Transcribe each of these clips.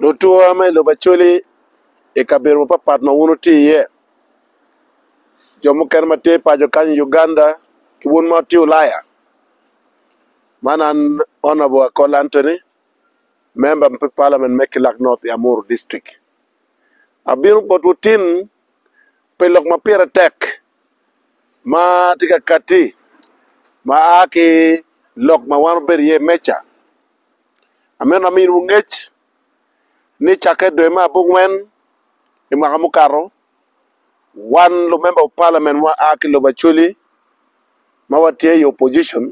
Lutuwa ma i lobo Acholi i kabedo mapapat ma wun wutye iye, jo mukene ma tye paco kany i Uganda ki wun ma wutye Ulaya, man an Honourable Akol Anthony, memba me Parliament me Kilak North i Amuru District. Abino botwu tin pi lok ma pire tek ma tye ka katti ma a ki lok ma wan wabedo iye meja. Amito aminiwu ngec ni cakke i dwe me abongwen i mwaka mukato, wan lumemba pa palamen ma a ki lobo Acholi ma watye i opposition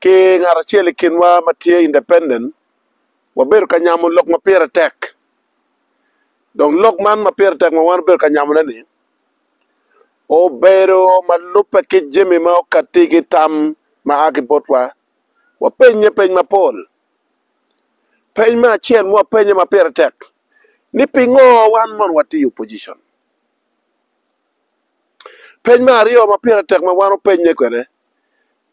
ki ngat acel i kinwa ma tye independent wabedo ka nyamo lok ma pire tek. Dong lok man ma pire tek ma wan obedo ka nyamone-ni obedo ma lubbe ki jami ma okatti ki tam ma a ki botwa wapenye peny mapol. Peny me acel ma wapenye ma pire tek ni pingo wan mono watiyo opposition? Peny me aryo ma pire tek ma wan openye kwede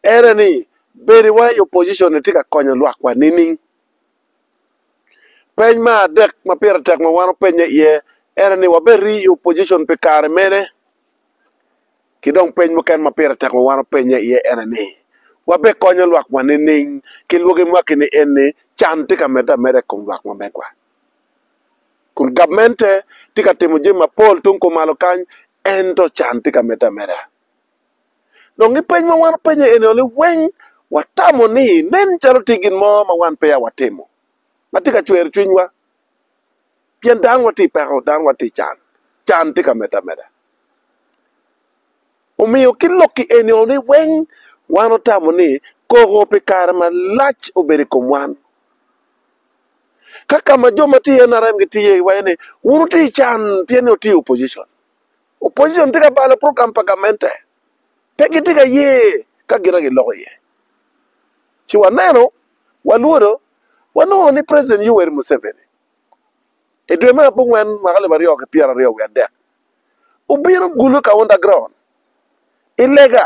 ene ni bedowa i opposition ni tye ka konyo lwakwa nining? Peny me adek ma pire tek ma wan openye iye ene ni wabedo i opposition pi kare mene? Ki dong peny mukene ma pire tek ma wan wapenye iye ene ni, Wabikonyo lwakwa nining ki lwogi mwaki ni en ni can tye ka medde ameda i kom lwak ma megwa? Kun gabmente tye ka timo jami mapol tung kumalo kany, ento can tye ka medde ameda. Dong ki peny ma wan wapenye ene ni weng watamo ni nen calo tye gin mo ma wan peya watimo ma tye ka cwero cwinywa. pien dano watye i peko, dano watye i can, can tye ka medde ameda. Omiyo ki lok i eni ni weng wan otamo ni koko pi kare malac obed i kom wan. Ka ka ma jo ma tye i NRM gitiyo iye iye ni wun wutye i can pien ni wutye i opposition. opposition tye ka balo program pa gamente, pe gitye ka ye ka gin giloko iye. Ci waneno, walwodo, wanongo ni President Yoweri Museveni i dwe me abongwen mwaka alip aryo ki pyeraryo wiye adek obino gulu ka underground i lega,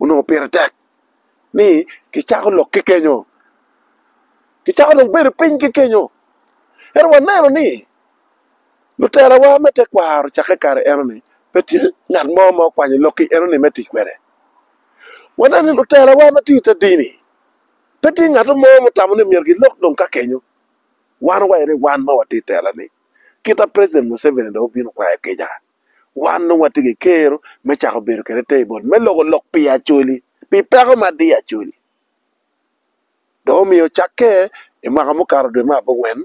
onongo pire tek ni kicako lok ki kenyo, kicako dong bedo piny ki kenyo. Ento waneno ni lutelawa me tekwaro cakke i kare enoni pe tye ngat mo ma okwanyo lok-ki enoni me tic kwede. Waneno ni lutelawa ma tye i te dini pe tye ngat mo ma otamo ni myero gilok dong ka kenyo. Wan waye ni wan ma watye i tela-ni, kit ma President Museveni dong obino kwayo kica. Wan nongo watye ki kero me cako bedo kede te i bot me loko lok pi Acholi, pi peko ma diyo Acholi. Dong omiyo cakke i mwaka mukato dwe me abongwen,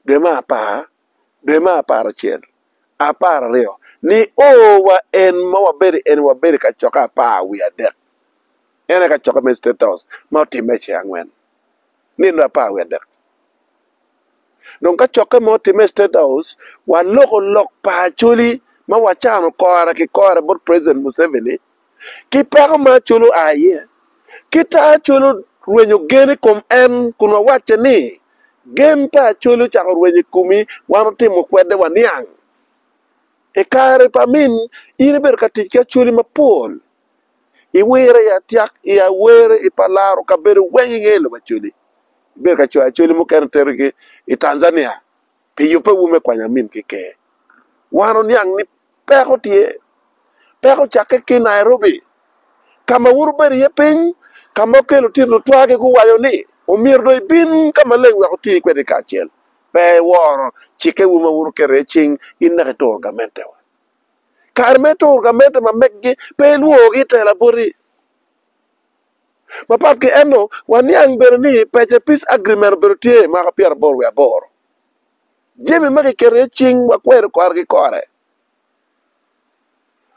dwe me apar, dwe me aparacel, apararyo, ni o wa en ma wabedo i eni wabedo i kacokke apar wiye adek. En aye kacokke me State House ma otimme i ceng angwen, nino apar wiye adek. Dong ka cokke mo otimme i State House, waloko lok pa Acholi ma wacano kora ki kora bot President Museveni ki peko ma Acholi oa iye. Kita Acholi orwenyo gen i kom en kun wawacce ni, Gen pa Acholi ocako rwenyo i komi, wan otimo kwede waniang. I kare pa min, in ibedo ka tic ki Acholi mapol. Iwire i atyak, i awere, i palaro kabedo weng inge lobo acoli. Ibedo ka coyo acoli mukene tero ki i Tanzania pi yubbe wu me kwanyo amin ki ker. Wan oniang ni peko tye. Peko cakke ki Nairobi. Kama wun wubedo iye piny, kama okelo titino twagi guwaco ni omyero dong ibin ka maleng wek wuti kwede kacel. Pe iworo cikke wu ma wun wuketo iye cing inaka ituro gamente wa. Kare me turo gamente ma meggi pe ilwowogi i tela boti. Mapat ki eno, waniang bene ni pece Peace Agreement obedo tye i mwaka pyeraboro wiye aboro. Jami ma kiketo iye cing wakwero kore ki kore.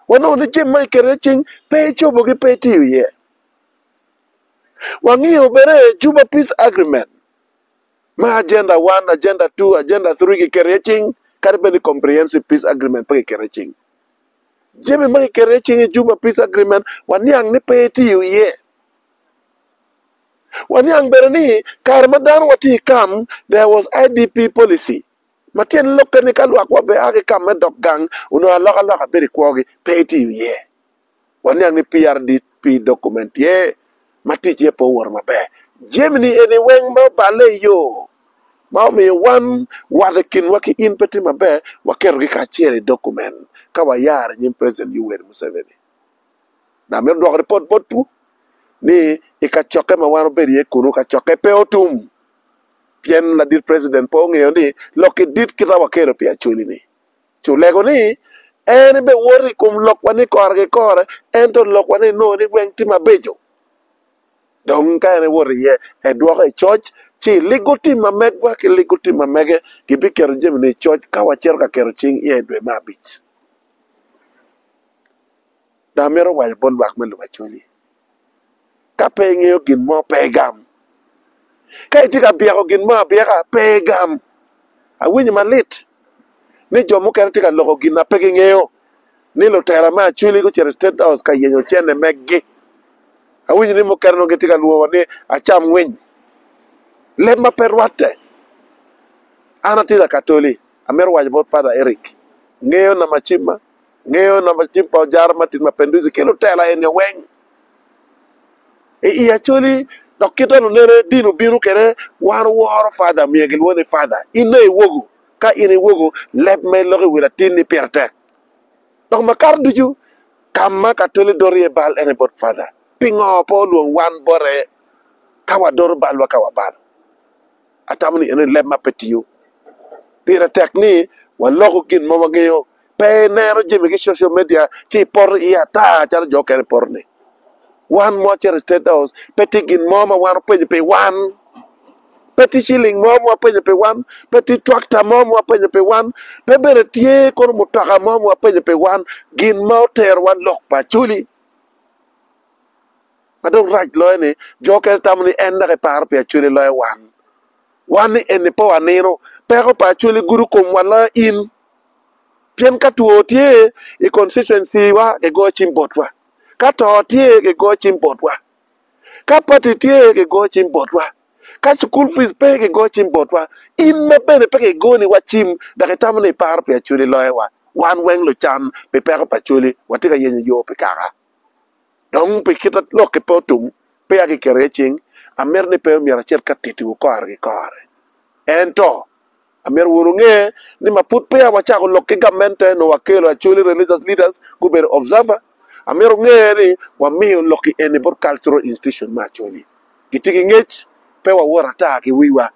Wanongo ni jami ma kiketo iye cing pe icobogi, pe itiyo iye. Wangiyo bene Juba Peace Agreement me agenda one, agenda two, agenda three kiketo iye cing kadi bed ni comprehensive peace agreement pe kiketo iye cing. Jami ma kiketo iye cing i Juba Peace Agreement waniang ni pe etiyo iye. Waniang bene ni kare ma dano watye i kam, there was IDP policy ma tyen lokke ni ka lwakwa obea ki i kam me dok gang onongo alokaloka bedo i kwogi, pe etiyo iye. waniang ni PRDP document tye ma ticce pe owoto maber. Jami-ni eni weng ma oballe i yo ma omiyo wan wat i kinwa ki in pe tye maber, waketogi kacel i document ka wayaro i nyim President Yoweri Museveni. Dok amito dwoko ripot botwu ni i kacokke ma wan wabedo iye kunu, kacokke pe otum pien ladit President pe ongeyo ni lokki dit kita wakelo pi Acholi-ni. ci olego ni, En ebiwoto i kom lokwa ni kora ki kora, ento lokwa ni enongo ni weng tye mabeco. Dong ka en ewoto iye, edwoko i coc, ci eligo tim ma megwa ki ligo tim ma mege, gibiketo jami-ni i coc ka wacito ka keto cing iye i dwe me abic. Dong amito waco bot lwak me lubaco ni, Ka pe ingeyo gin mo, pe igam. Ka itye ka byeko gin mo abyeka, pe igam. Awinyo malit ni jo mukene tye ka loko gin ma pe gingeyo, ni lutera me Acholi gucito i State House ka yenyo cene megi. Awinyo ni mukene dong gitye ka lwoko ni acam winy. Leb ma pe rwatte. An atye Lakatoli, amito waco bot Pader Eric, ngeyo nama cimma. ngeyo namba cim pa Ojara Martin Mapinduzi ki lutela enio weng i i Acholi dok kita lunene dini obino kede wan oworo Father omiyo gilwongo ni Father inne iwogo ka in iwogo leb ma iloko i wi latin ni pire tek dok makato ducu ka ma Katoli doro iye bal ene bot Father pingo pe olwong wan bote ka wadoro balwa ka wabalo Atamo ni eno ni leb ma pe tiyo. Pire tek ni waloko gin ma wangeyo. Pe ineno jami ki social media ci ipoto iye ata calo jo okene poto ni. Wan ma wacito i State House pe tye gin mo ma wan wapenyo pi wan. Pe tye ciling mo ma wapenyo pi wan. Pe tye twakta mo ma wapenyo pi wan. Pe bene tye kono mutoka mo ma wapenyo pi wan. Gin ma oterowa lok pa Acholi. Ma dok rac loyo ni, jo mukene tamo ni en dok eparo pi Acholi loyo wan. Wan ni eni pe wanino peko pa Acholi gudo komwa loyo in. Pien ka two tye i constituency wa gigoyo cim botwa, ka to tye gigoyo cim botwa, ka party tye gigoyo cim botwa, ka cukul fees pe gigoyo cim botwa. In ma bene pe gigoni wa cim dok itamo ni iparo pi Acholi loyo wa. Wan weng lucan pi peko pa Acholi watye ka yenyo yoo pi kaka. Dong pi kit lok-ki pe otum, peya kiketo iye cing. Amito ni pe omyero acit ka tittiwu kore ki kore. Ento, amyero wun wunge ni ma pud peya wacako lok ki gamente, nongo wakelo Acholi Religious Leaders gubedo observer. Amyero wunge ni wamiyo lok-ki eni bot Cultural Institution me Acholi. Gitye ki ngec, pe wawot ata ki wiwa.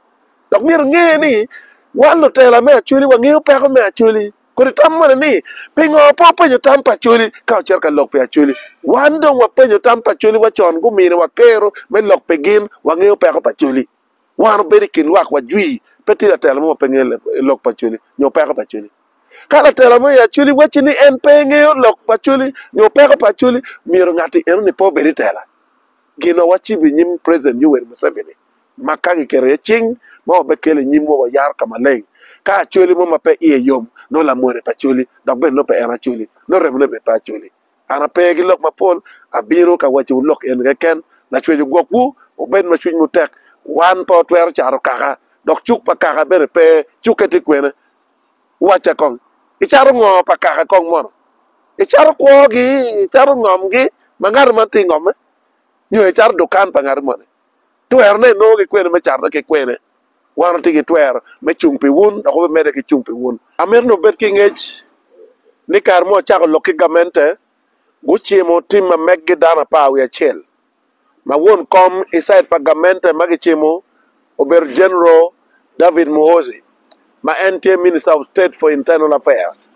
Dok myero inge ni, wan lutela me Acholi wangeyo peko me Acholi. Kodi itam moni ni, 'Pingo pe wupenyo tam pa Acholi ka wucito ka lok pi Acholi? Wan dong wapenyo tam pa Acholi wa con, guminiwa kero me lok pi gin, wangeyo peko pa Acholi. Wan wabedo i kin lwak wajwi, pe tye latela mo ma pe ngeyo lok pa Acholi nyo peko pa Acholi. Ka latela mo i Acholi wacci ni en pe ngeyo lok pa Acholi nyo peko pa Acholi, myero ngatti eno-ni pe obed i tela. Gin ma wacibo i nyim President Yoweri Museveni. ma ka kiketo iye cing ma wabekele i nyimwu, wayaro ka maleng. Ka Acholi mo ma pe iye yom, nongo lamone pe Acholi, dok bene nongo pe en Acholi, nongo remone bene pe Acholi. An ape ki lok mapol, abino ka wacciwu lok eni keken, Lacwec ogwokwu, wubed ma cwinywu tek. Wan pe watwero caro kaka, dok cuk pa kaka bene pe. Cukke tye kwene? Wacca kong, icato ngo pa kaka kong mono? Icato kwogi? Icato ngomgi ma ngati man tye ngomme? Nyo icato dukan pa ngati moni? Twerone inongo ki kwene me catone ki kwene? Wan watye ki twero me cung pi wun dok wamedde ki cung pi wun. Amito ni wubed ki ngec ni kare ma wacako lok ki gamente, gucimo tim ma meggi dano apar wiye acel ma won kom i cid pa gamente ma gicimo obedo General David Muhoozi ma en tye Minister of State for Internal Affairs.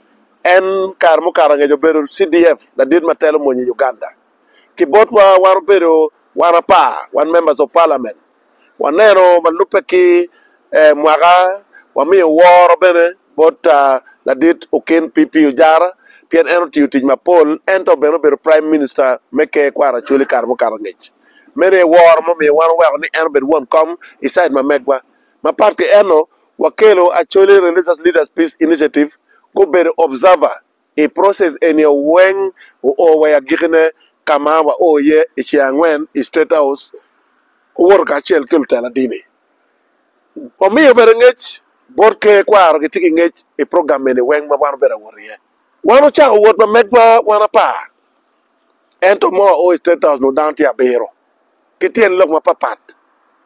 En kare mukato angec obedo CDF ladit ma telo mony i Uganda. ki botwa wan obedo wan apar wan members of parliament waneno ma lubbe ki mwaka wamiyo woro bene bot ladit Okin PP Ojara pien en otiyo tic mapol ento bene obedo prime minister me ker kwaro Acholi kare mukato ngec meno aye woro mumiyo wan oweko ni en obed won kom i side ma megwa mapat ki eno wakelo Acholi religious leaders peace initiative gubedo observer i process eni o weng o oo wa i agikine ka ma wa oo iye i ce angwen i State House owoto kacel ki lutela dini. Omiyo bene ngec bot ker kwaro gitye ki ngec i program eni weng ma wan obedo awot iye. Wan ocako wot ma megwa wan apar ento mo oo i State House nongo dano tye abiro ki tyen lok ma pat pat.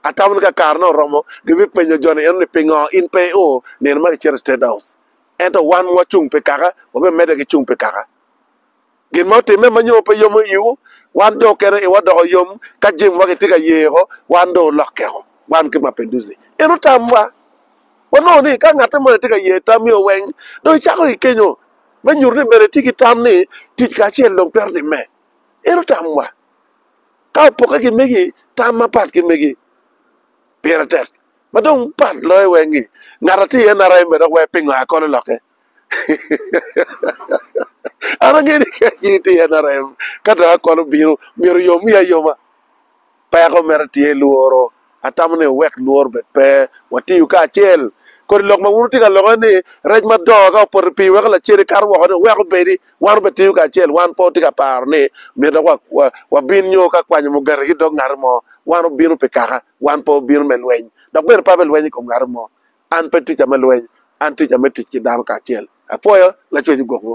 Atamo ni ka kare ne oromo gibipenyo joni eno ni pingo in pe i oo nino ma kicito i State House. Ento wan ma wacung pi kaka, wabimedde ki cung pi kaka. Gin ma otimme ma nyo pe yomo iwu, wan dong oketo iwa doko yom ka jemo ma kitye ka yeko wan dong olokkeo, wan ki Mapendusi. En otamwa. Wanongo ni ka ngatte moni tye ka ye tamio weng, dong icako ki kenyo me nyuto ni bene itye ki tam ni tic kacel dong twero timme. En otamwa. Ka opokke ki megi, tam mapat ki megi pire tek. Ma dong pat loyo weng ni ngat atye i NRM be dok wee pingo aa kono loke. An angeyo ni ka in itye i NRM ka dong aa kono bino myero yom wiyi ayoma. Peko mere tye lworo. Atamo ni wuwek lworo obed pe, watiyu kacel. Kodi lok ma wun wutye ka lokke ni rec madongo ka opoto i pii weko lacen ikato woko ni wuwek obedi, wan obed tiyu kacel. Wan pe watye ka paro ni myero dok wabin nyo ka kwanyo mugati ki dog ngati mo. Wan wubino pi kaka. Wan pe wabino me lweny, dok bene pe abe lweny i kom ngati mo. An pe tica me lweny, an tica me tic ki dano kacel. Apwoyo, Lacwec ogwokwu.